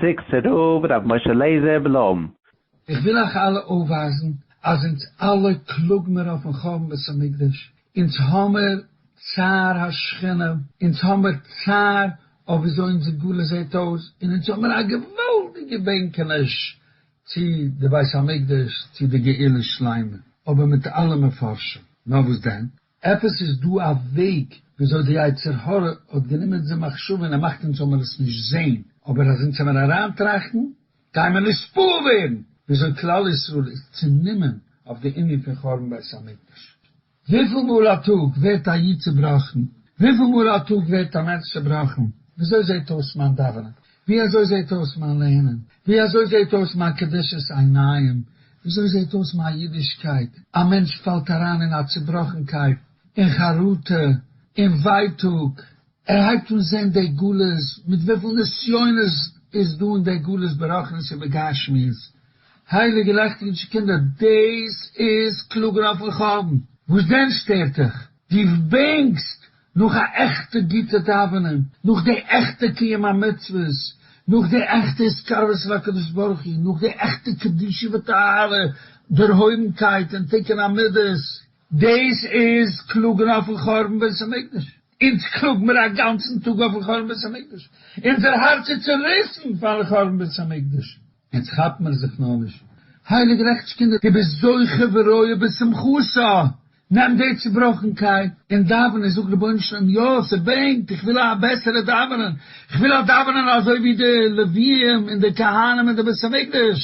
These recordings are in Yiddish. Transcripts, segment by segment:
סיקסטער רב ר' משה לעזער בלום. איך וויל אייך אלע אויפווייזן אז אונז אלע קלאג מיר אויפן חורבן בית המקדש, אונז האמיר צער השכינה, אונז האמיר צער אויף וויאזוי אונזער גלות זעט אויס, און אונז האמיר א געוואלדיגע בענקעניש צו די בית המקדש, צו די גאולה שלימה, אבער מיט אלע מפרשים, נאר וואס דען? עפעס איז דא א וועג וויאזוי די יצר הרע האט גענומען די מחשבה און ער מאכט אונז זאלמער עס נישט זעהן, אבער אז אונז העמיר אריינטראכטן גיימער נתפעל ווערן וויאזוי כלל ישראל איז צונומען אויף די ענין פון חורבן בית המקדש. וויפיל מאל א טאג ווערט א איד צובראכן? וויפיל מאל א טאג ווערט א מענטש צובראכן? וויאזוי זעהט אויס מיין דאווענען? ווי אזוי זעהט אויס מיין לערנען? ווי אזוי זעהט אויס מיין קדושת עיניים? ווי אזוי זעהט אויס מיין אידישקייט? א מענטש פאלט אריין אין א צובראכנקייט, אין חרטה, אין ווייטאג, ער הייבט אן זעהן די גלות, מיט וויפיל נסיונות איז דא אין די גלות ברוחנית און בגשמיות, הייליגע לעכטיג'ע קינדער דאס איז קלאגן אויפן חורבן, וואס דען שטערט דיך? דו בענקסט נאך א עכטע גוטע דאווענען, נאך די עכטע קיום המצוות, נאך די עכטע התקרבות אל הקדוש ברוך הוא, נאך די עכטע קדושה וטהרה, דערהויבנקייט און תיקון המידות. דאס איז קלאגן אויפן חורבן בית המקדש. אונז קלאגן מיר א גאנצן טאג אויפן חורבן בית המקדש. אונזער הארץ איז צוריסן פארן חורבן בית המקדש. אונז כאפן מיר זיך נאר נישט. הייליג רעכטשקינד, דו ביסט זוכה וראוי בשמחתו, נעם די צובראכנקייט און דאווען און זאג רבונו של עולם יא ס'בענקט איך וויל א בעסערע דאווענען איך וויל א דאווענען אזוי ווי די לוויים און די כהנים אין די בית המקדש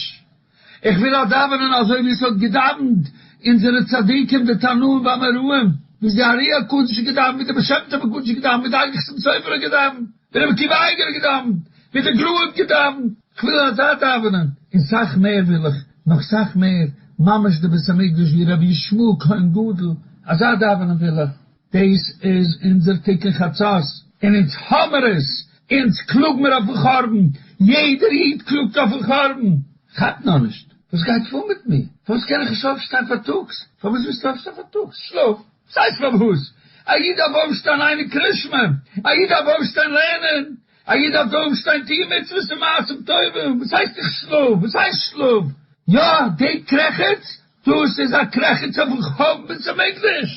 איך וויל א דאווענען אזוי ווי ס'האט געדאווענט אונזערע צדיקים די תנאים ואמוראים ווי די ארי הקדוש האט געדאווענט ווי די בעל שם טוב הקדוש האט געדאווענט ווי די אגר חסם סופר האט געדאווענט ווי רבי עקיבא אייגער האט געדאווענט ווי די גרא האט געדאווענט כ'וויל אזש דאווענען, און סאך מער וויל איך, נאך סאך מער, ממש די בית המקדש ווי רבי ישמעאל כהן גדול, אזא דאווענען וויל איך. דאס איז אונזער תיקון חצות, און אונז האמער עס, אונז קלאג מיר אויפן חורבן, יעדער איד קלאגט אויפן חורבן, כאפ נאר נישט וואס גייט פאר מיט מיר, פארוואס קען איך נישט אויפשטיין פארטאגס, פארוואס ווילסטו אויפשטיין פארטאגס, שלאף, ס'הייסט פארוואס, א איד דארף אויפשטיין אייניג קרישמע, א איד דארף אויפשטיין לערנען, א איד דארף דארט שטיין טוען מצוות און מעשים טובים, וואס הייסט איך שלאף? וואס הייסט שלאף? יא, דעי קרעכעץ, דאס איז א קרעכעץ אויפן חורבן בית המקדש!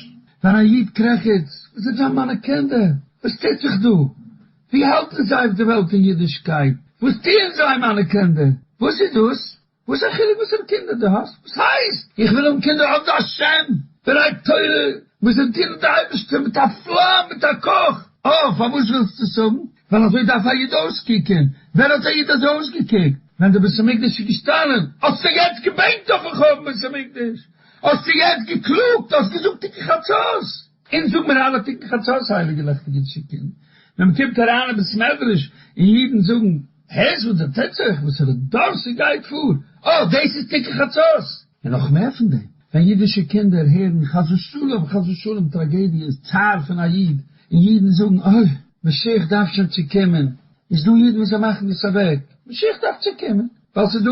ווען א איד קרעכעצט, וואס זענען זיין מיינע קינדער? וואס טוט זיך דא? ווי האלטן זיי אויף די וועלט אין אידישקייט? וואס טוען זיי מיינע קינדער? וואס איז דאס? וואס א חילוק וואסערע קינדער דו האסט? וואס הייסט איך וויל האבן קינדער אויף די השם בני תורה וואס זיי דינען די אייבערשטער מיט א פלאם מיט א קוך? אה, פארוואס ווילסטו עס האבן? ווייל אזוי דארף א איד אויסקוקען, ווען האט א איד אזוי אויסגעקוקט? ווען די בית המקדש איז געשטאנען, האסטו יעצט געבענקט אויפן חורבן בית המקדש, האסטו יעצט געקלאגט, האסט געזאגט תיקון חצות, אונז זאג מיר אלע תיקון חצות הייליגע לעכטיגע טשיקען, ווען מען קומט אריין אין בית מדרש און אידן זאגן, הערסט וואס דערציילט זיך וואס ר' דארסי גייט פאר? אה, דאס איז תיקון חצות! און נאך מער פון דעם, ווען אידישע קינדער הערן חס ושלום חס ושלום טראגעדיעס, צער פון א איד, און אידן זאגן אוי, משיח דארף שוין צו קומען, איז דא אידן וואס זיי מאכן דאס אוועק, משיח דארף צו קומען, ווייל ס'איז דא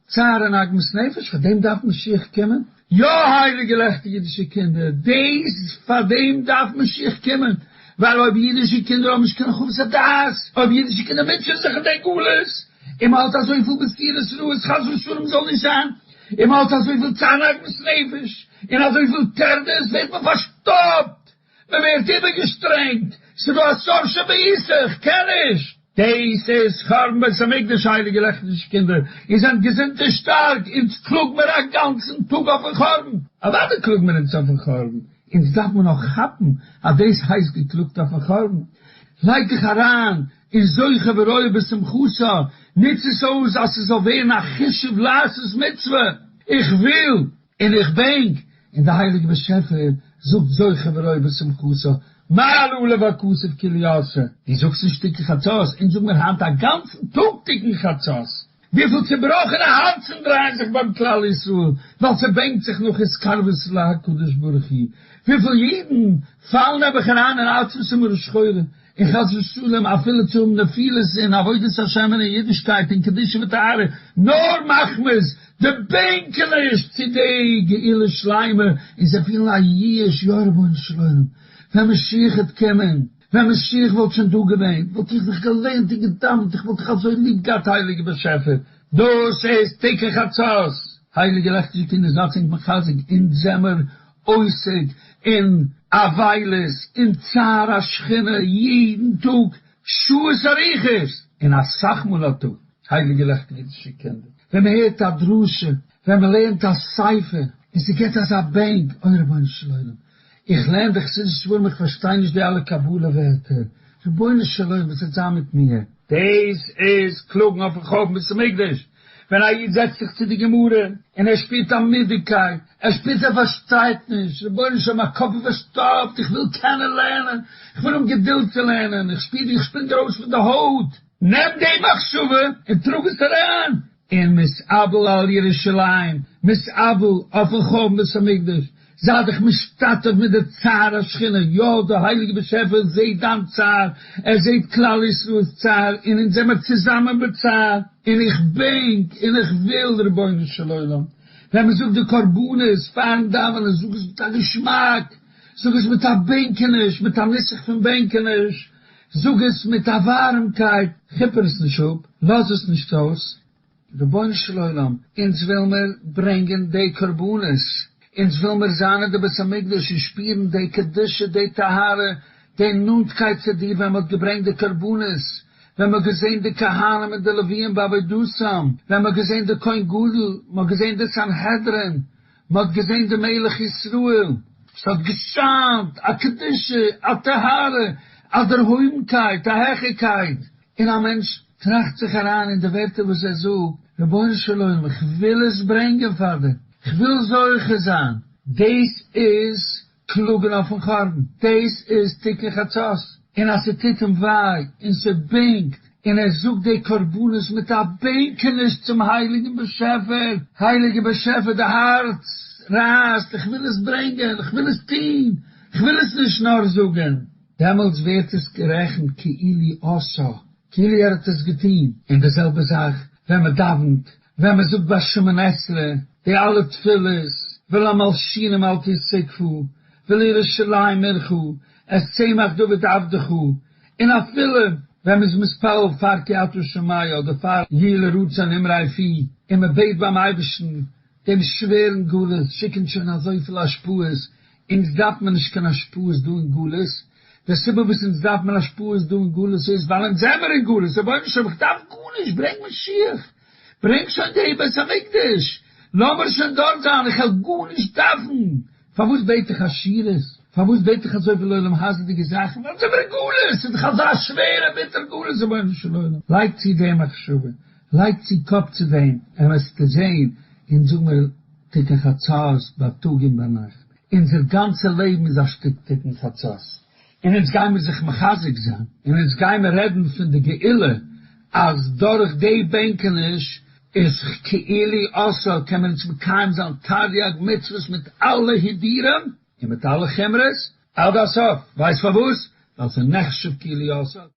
צער און עגמת נפש, פאר דעם דארף משיח קומען? יא הייליגע לעכטיגע אידישע קינדער, דעיס פאר דעים דארף משיח קומען, ווייל אויב אידישע קינדער האבן נישט קיין חוות הדעת, אויב אידישע קינדער מוטשען זיך אין דעי גלות, און מען האלט אזויפיל בשירות רעות חס ושלום זאל נישט זיין, און מען האלט אזויפיל צער און עגמת נפש, און אזויפיל טרדות ווערט מען פארשטאפט, מען ווערט איבערגעשטרענגט, ס'דא א סוף שבעיסה, כ'קען נישט. דעיס איז חרבן בית המקדש הייליגע לעכטישע קינדער, איר זענט געזונט און שטארק, אונז קלאג מיר א גאנצן טאג אויפן חרבן, אוודאי קלאג מיר אונז אויפן חרבן, אונז דארף מען נאר כאפן אז דעיס הייסט געקלאגט אויפן חרבן, לייג דיך אריין און זוכה ורואה בשמחתו, נוץ עס אויס אז ס'זאל ווערן א חשוב לעשות מצוה, איך וויל. און איך בענק, און דער הייליגער באשעפער זאגט זוכה וראה בשמחתו, מה עלו לו הכסף כי לי עשה. דו זאגסט נישט תיקון חצות, אונז זאגן מיר היינט א גאנצן טאג תיקון חצות. וויפיל צובראכענע הארצן דרייען זיך ביים כלל ישראל ווייל ס'בענקט זיך נאך התקרבות להקדוש ברוך הוא, וויפיל אידן פאלן נעבעך אריין אין עצבות ומרה שחורה, און חס ושלום אפילו צו האבן נפילות אין עבודת השם און אין אידישקייט און קדושה וטהרה, נאר מחמת די בענקעניש צו די גאולה שלימה און זיי פילן א ייאוש, יא רבונו של עולם, ווען משיח העט קומען, ווען משיח וואלט שוין דא געווען, וואלט איך דיך געלערנט און געדאוונט, איך וואלט דיך אזוי ליב געהאט הייליגער באשעפער. דאס איז תיקח עצות, הייליגער לעכטיגער קינדער זייטס ענק מחזק אונז זעמער אויסעד און אבילות און צער השכינה יעדן טאג שעות אריכות, און אסאך מאל א טאג, הייליגע לעכטיגע אידישע קינדער, ווען מען הערט א דרשה, ווען מען לערנט א ספר, און ס'געט אזא בענק, אוי רבונו של עולם, איך לערן די חסידישע ספרים איך פארשטיי נישט די אלע קבלה ווערטער, רבונו של עולם וואס וועט זיין מיט מיר? דאס איז קלאגן אויפן חורבן בית המקדש, ווען א איד זעצט זיך צו די גמרא און ער שפירט א מידעקייט, ער שפירט ער פארשטייט נישט, רבונו של עולם מיין קאפ איז פארשטאפט, איך וויל קענען לערנען, איך בין אן געדולד צו לערנען, איך שפיר ווי איך שפרינג ארויס פון די הויט, נעם די מחשבה און טראג עס אריין אין מס' אבל על ירושלים, מס' אבל אויפן חורבן בית המקדש, זיי דיך משתתף מיט די צער השכינה, יא דער הייליגער באשעפער זעהט דיין צער, ער זעהט כלל ישראל'ס צער, און אונז זעמער צוזאמען בצער, און איך בענק און איך וויל רבונו של עולם ווען מען זאגט די קרבנות פארן דאווענען זאג עס מיט א געשמאק, זאג עס מיט א בענקעניש, מיט א נוסח פון בענקעניש, זאג עס מיט א ווארעמקייט, כיפער עס נישט אפ, לאז עס נישט אויס, רבונו של עולם, אונז וויל מיר ברענגען די קרבנות, אונז וויל מיר זיין אין די בית המקדש און שפירן די קדושה, די טהרה, די נאנטקייט צו דיר ווען מען האט געברענגט די קרבנות, ווען מען האט געזען די כהנים און די לוויים בעבודתם, ווען מען האט געזען די כהן גדול, מען האט געזען די סנהדרין, מען האט געזען די מלך ישראל. עס האט געשיינט א קדושה, א טהרה, א דערהויבנקייט, א העכערקייט, און א מענטש טראכט זיך אריין אין די ווערטער וואס ער זאגט, רבונו של עולם איך וויל עס ברענגען פאר דיר, איך וויל זוכה זיין, דאס איז קלאגן אויפן חורבן, דאס איז תיקון חצות, און אז ס'טוט אים וויי און ס'בענקט, און ער זאגט די קרבנות מיט א בענקעניש צום הייליגן באשעפער, הייליגער באשעפער די הארץ רייסט, איך וויל עס ברענגען, איך וויל עס טון, איך וויל עס נישט נאר זאגן. דעמאלטס ווערט עס גערעכנט כאילו עשה, כאילו ער האט עס געטון, און די זעלבע זאך ווען מען דאווענט, ווען מען זאגט ביי שמונה עשרה די אלע תפילות, ולמלשינים אל תזקפו, ולירושלים עירך, את צמח דוד עבדך, און אפילו ווען מען איז מתפלל פאר כי אתה שומעי אדער פאר יהי לרצון אמרי פי, און מען בעט ביים אייבערשטן דעם שווערן גלות שיקען שוין אזויפיל השפעות, אונז דארף מען נישט קיין השפעות דא אין גלות, די סיבה וואס אונז דארף מען השפעות דא אין גלות איז ווייל אונז זעמער אין גלות, רבונו של עולם איך דארף גארנישט, ברענג משיח, ברענג שוין די בית המקדש, לאמיר שוין דארט זיין, איך וועל גארנישט דארפן, פארוואס בעט איך עשירות, פארוואס בעט איך אזויפיל עולם הזה'דיגע זאכן, ווייל אונז זעמער אין גלות, ס'איז דאך אזא שווערע ביטער גלות, רבונו של עולם לייג צו די מחשבה. לייג צו קאפ צו דעם, און וועסטו זען, אונז האמיר תיקון חצות בייטאג און ביינאכט, אונזער גאנצע לעבן איז א שטיק תיקון חצות, און אונז גיימיר זיך מחזק זיין, און אונז גיימיר רעדן פון די גאולה, אז דורך די בענקעניש איז כאילי עשור קען מען אונז מקיים זיין תריג מצוות מיט אלע הידורים און מיט אלע חומרות עד הסוף, ווייסט פארוואס? ווייל ס'איז נחשב כאילי עשור.